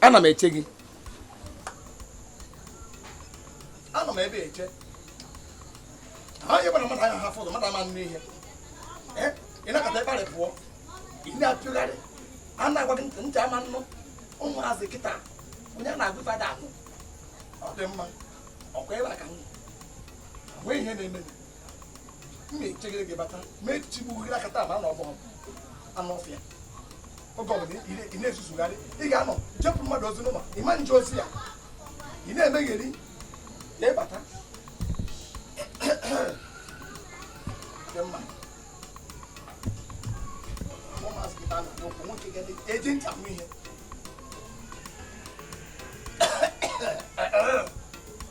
ana m eche gị anọ m ebe eche ha onye gbara mmadụ anya ha fọdụ mmadụ ama nnụ ihe ị nakọta ịkparị pụọ ị na-apịgharị a na-agwa gị ntị ama nnụ ụmụazị kịta onye na-agwa fa ada anụ ọ dị mma ọkwa ebe a ka m nwee ihe na-eme m na-echegide gị bata ma echigbu gị akata ma na ọgbọghọ anụ ọfịa oge ọbụla ị na-ezuzugharị ị ga-anọ jepụ mmadụ ozi n'ụlọ ị ma nje ozi ya ị na-emegheri ya ị bata eji ncha m ihe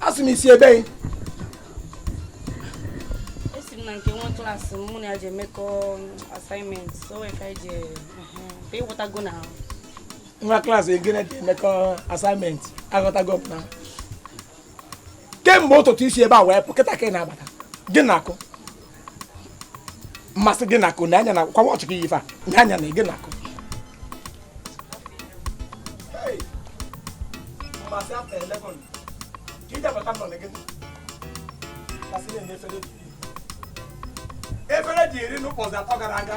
asị m i si ebe anyị esi m na nke nwa class mụ na ya ji emekọ assignment so wee ka ji ị ghọtago na nwa class gị na ya ji emekọ assignment aghọtago m na kemgbe ụtụtụ i si ebe a wee pụ kịta ka ị na-abata gịnị na-akụ mmasị gịnị na-akụ nee anya nekwa watch gị yife a na anya na gịnị na-akụ mmasị after 11 ka ị ja-abata nọ na gị kasị na-enye efere efere e ji rie nri ụbọchị atọ gara aga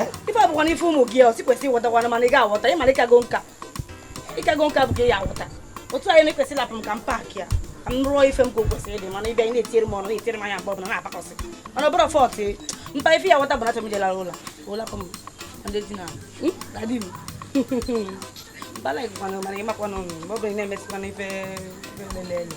eh? ife abụkwa n'ife ụmụ gị ọsi kwesị ịghọtakwana mana ị ga-aghọta ị mara ị kago nka ị kago nka bụ ka ị ya aghọta otu anyị na-ekwesị lapụ m ka m pack ya ka m rụọ ife m ka o kwesịrị ịdị mana ị bịa ị na-etiere m ọnụ na-etiere m anya mgbe ọbụla na-apakọsị mana ọ bụrọ fault mpa ife ya aghọta bụ na achọ m ije lara ụlọ ụlọ m ndị di na hmm? dadi m bala ịgụkwana mana ị makwana ọnụ mgbe ọ bụla ị na-emesịkwana ife lelele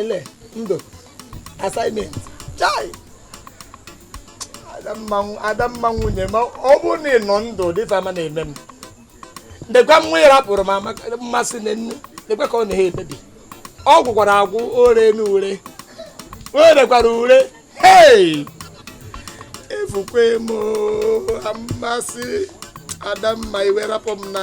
ele ndụ assignment chai adamma nwunye ma ọ bụrụ na ị nọ ndụ kịta ama na-eme m nekwa nwa ị rapụrụ m mmasị na nne nekwa ka ọ na-ehe ebebi ọ gwụkwara agwụ o rena ure o rekwara ure hei efukwe m mmasị adamma i wee rapụ m na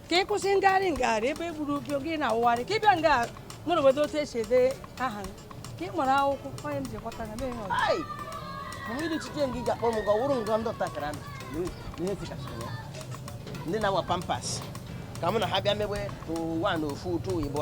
ka ị kwụsị ngagharị ngagharị ebe e gburu gị gị na-awụgharị ka ị bịa nga mụrụ obodo otu esi ede aha ka ị mara akwụkwọ onye m ji gbata na mee ihe ọzọ gị ga-akpọ m gị ọwụrụ ngọ ndụ takara ihe tikasịrị ya ndị na-awa pampers ka mụ na ha bịa mewe ụwa na ofu ụtụ igbo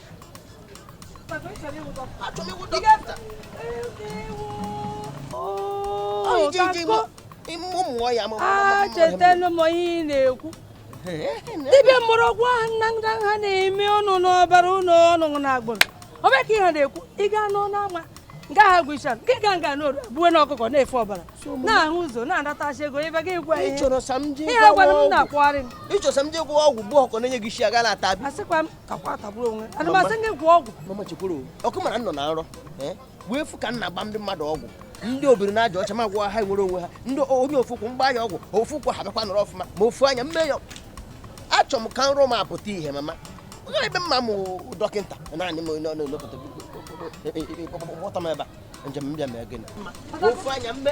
achetelu m ihe ị na-ekwu dibịa mụrụ ọgwụ ahụ nna nna ha na-eme ọ nọ n'ọbara ụnụ ọ nọ na agbụrụ ọbịa ka ihe na-ekwu ị gaa n'ọnụ ama nga ha gwụcha nke ga nga n'oru abụwe na ọkụkọ na-efe ọbara na-ahụ ụzọ na-anatacha ego ebe gị gwa ihe gwara m na-akwụgharị m ịchọsa m je gwọọ ọgwụ bụ ọkọ na-enye gị isi aga na-ata asịkwa m takwa tagburu onwe ana m asị gị gwọ ọgwụ mama chekwuru ọkụ mara nọ na nrọ eh? wee fụ ka m na-agba ndị mmadụ ọgwụ ndị obiri na aja ọcha m agwọọ ha nwere onwe ha ndị onye ofu ụkwụ m gbaa ya ọgwụ ofu ụkwụ ha bịakwa nọrọ ọfụma ma ofu anya m mee ya achọ m ka nrọ m a pụta ihe mama ebe mma m dọkịta naanị m n'obodo kpọta m ebe a njem mbịa mee gịnị ofu anya mme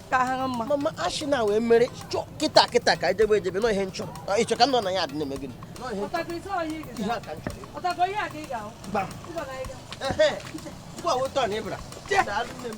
ka ha ha mma mama ashị na wee mere chọọ kịta kịta ka e jebe ejebe nọ ihe m chọrọ Ọ, ị chọrọ ka m nọ na ya adị na-eme gịnị Nọ ihe m chọrọ. Ihe a ka m chọrọ. Gbam. Ehe. Ugbu a weta ọ na ịbara Daalụ nne m.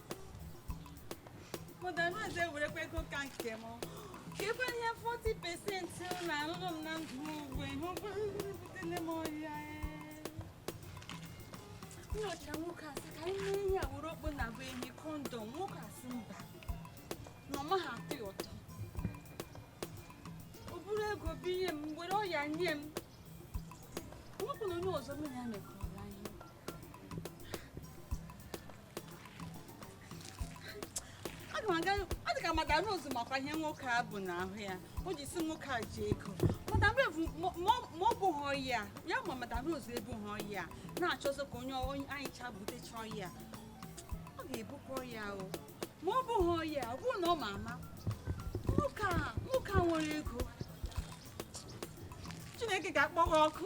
Mọdanaze werekwa ego ka nke m. Ka ebe ihe 40 pesenti na alụlụ m na ndụ m ugbu ebutele m ọya. M yọchaa nwoke a sị ka anyị mee ihe a were okpu nnabuenyi kọndọm nwoke a sị mba na ọ naghị atọ ya ụtọ. O buru ego bunye m were ọya nye m. Nwepụ na onye ọzọ m ya mekọrọ anyị. ọ dị ka madam Rose makwa ihe nwoke a bu n'ahụ ya o ji si nwoke a ji ego madam Rose ma o bughị ọya ma madam Rose ebughị ọya na-achọzi ka onye anyị ncha butechaa ọya ọ ga-ebukwa ọya o ma o bughị ọya ọ bụrụ na ọ ma ama nwoke a nwere ego Chineke ga-akpọ ha ọkụ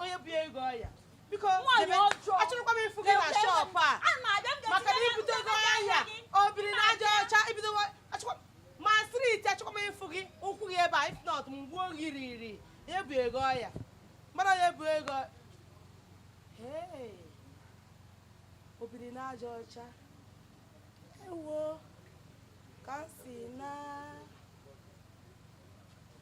onye bugo ọya biko achọrọkwa m ịfụ gị na shọpụ a maka na i butego ọya obiri na aja ọcha ibido ma striti achọkwa m ịfụ gị ụkwụ gị ebe a if not m gbuo gị riri ya ebugo ọya mara ya ebugo obiri na aja ọcha ewo ka m si na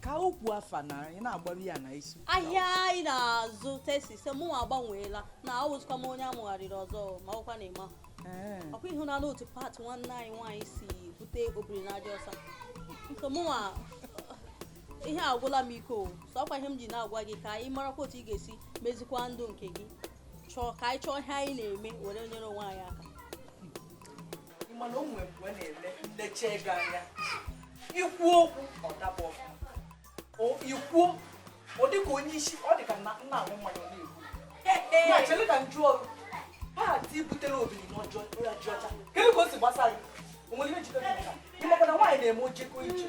ka okwu afa na ị na-agbaru ya na isi ahịa anyị na-azụ tesise mụnwa agbanweela na awụzikwa m onye a mụgharịrị ọzọ ma ọkwa na ị ma ọkwa ị hụna otu pat nwanne anyị nwaanyị si bute obiri na aja ọcha nke mụnwa ihe agwụla m ike so ọkwa ihe m ji na-agwa gị ka anyị marakwa otu ị ga-esi mezikwa ndụ nke gị chọọ ka anyị chọọ ihe anyị na-eme were nyere onwe anyị aka mana o nwere mgbe na-eme lecha gị anya ikwu okwu ọ daba ikwuo ọ dị ka onye isi ọ dị ka nna ahụ mmanya na-egbu na chere ka m jụọ ọrụ pati butere obiri n'ọjọọ ọcha kedu ka o si gbasa gị o nwere ihe jikọta ị makwa na nwaanyị na-eme ojeko ije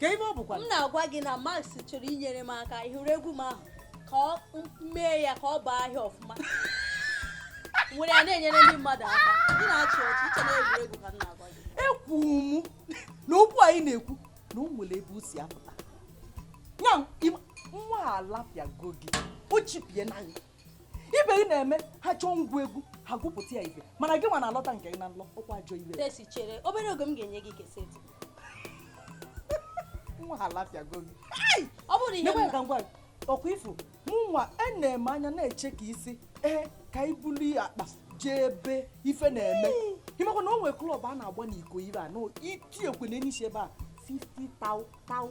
ka ibe ọ bụkwa m na-agwa gị na Max chọrọ inyere m aka ị hụrụ egwu m ahụ ka o mee ya ka ọ baa ahịa ọfụma were ya na-enyere ndị mmadụ aka ị na-achị ọchị i che na egwuregwu ka m na-agwa gị ekwu m na okwu anyị na-ekwu na o nwere ebe o si apụta ya nwa alapịago gị o chipie na gị ibe gị na-eme ha chọọ ngwa egwu ha gụpụta ife mana gị nwa na-alọta nke gị na nlọ ọkwa ajọ iwe tesi chere obere oge m ga-enye gị keseti nwa a alapịago gị ọ bụrụ ihe mma ka ngwa ọkwa ị fụ mụnwa ana-eme anya na-eche ka i si ee ka i bulu ya akpa jee ebe ife na-eme ị makwa na o nwere klọb a na-agba n'iko ire a na-eti ekwe n'enyi ebe a 50 tau tau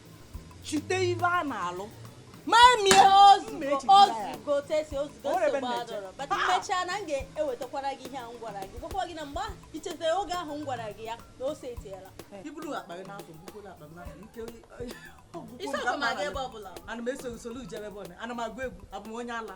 chute ebe a na-alụ mamie mechaa na m ga-ewetakwara gị ihe a m gwara gị gwakwa gị na mgbe ahụ i chetere oge ahụ m gwara gị ya na o setiela ana m esoghị solu i jebe ebe ọ na ana m agụ egwu abụ m onye ala